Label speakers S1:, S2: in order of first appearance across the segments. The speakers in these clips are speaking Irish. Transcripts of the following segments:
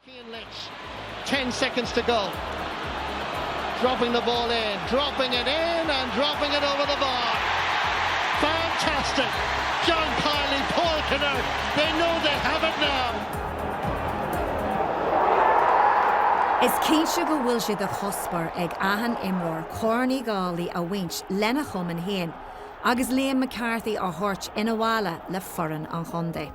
S1: Cian Lynch, ten seconds to go, dropping the ball in, dropping it in and dropping it over the bar! Fantastic! John Kiely, Paul Kinnerk, they know they have it now! Is cinnte go bhfuil sé de chuspóir ag achan imreoir Corn Uí Dhálaigh a bhaint lena chumann féin agus Liam McCarthy a thabhairt chun an bhaile le foireann an chontae.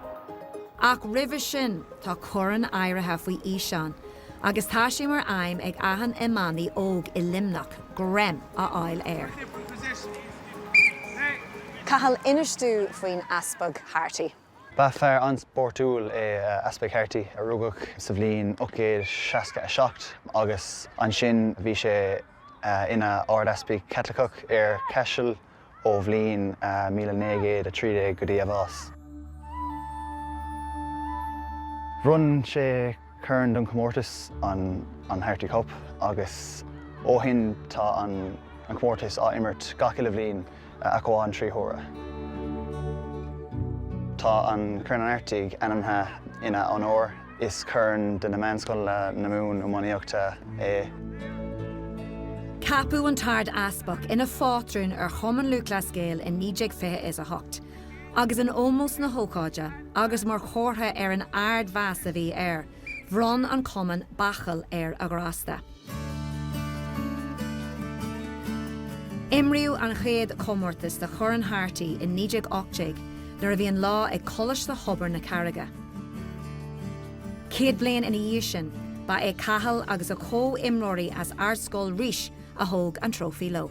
S1: Ach roimhe sin, Tá corn áirithe faoi aoisean agus tá sé mar aidhm ag achan iománaí óg i Luimneach greim a fháil air. Cathal, inis dúinn faoin Easpag Harty. Ba fear an-spórtúil é Easpag Harty a rugadh sa bhliain 1867 agus ansin bhí sé ina Ardeaspag Caitliceach ar Chaiseal, ón bhliain míle naoi gcéad a trí déag go dtí a bhás. Bhronn sé corn don chomórtas, an Harty Cup, agus ó shin tá an comórtas á imirt gach uile bhliain ach amháin trí huaire. Tá an Corn Harty ainmnithe ina onóir. Is corn do na meánscoileanna na Mumhan iománaíochta é. Ceapadh an tArdeaspag ina phátrún ar Chumann Lúthchleas Gael i 1928, agus in ómós na hócáide agus mar chomhartha ar an ardmheas a bhí air, bhronn an Cumann bachall ar a ghrásta. Imríodh an chéad chomórtas do Chorn Harty i 1918 nuair a bhí an lá ag Coláiste Thobar na Carraige. Céad bliain ina dhiaidh sin, ba é Cathal agus a chomhimreoirí as Ardscoil Rís a thóg an trófaí leo.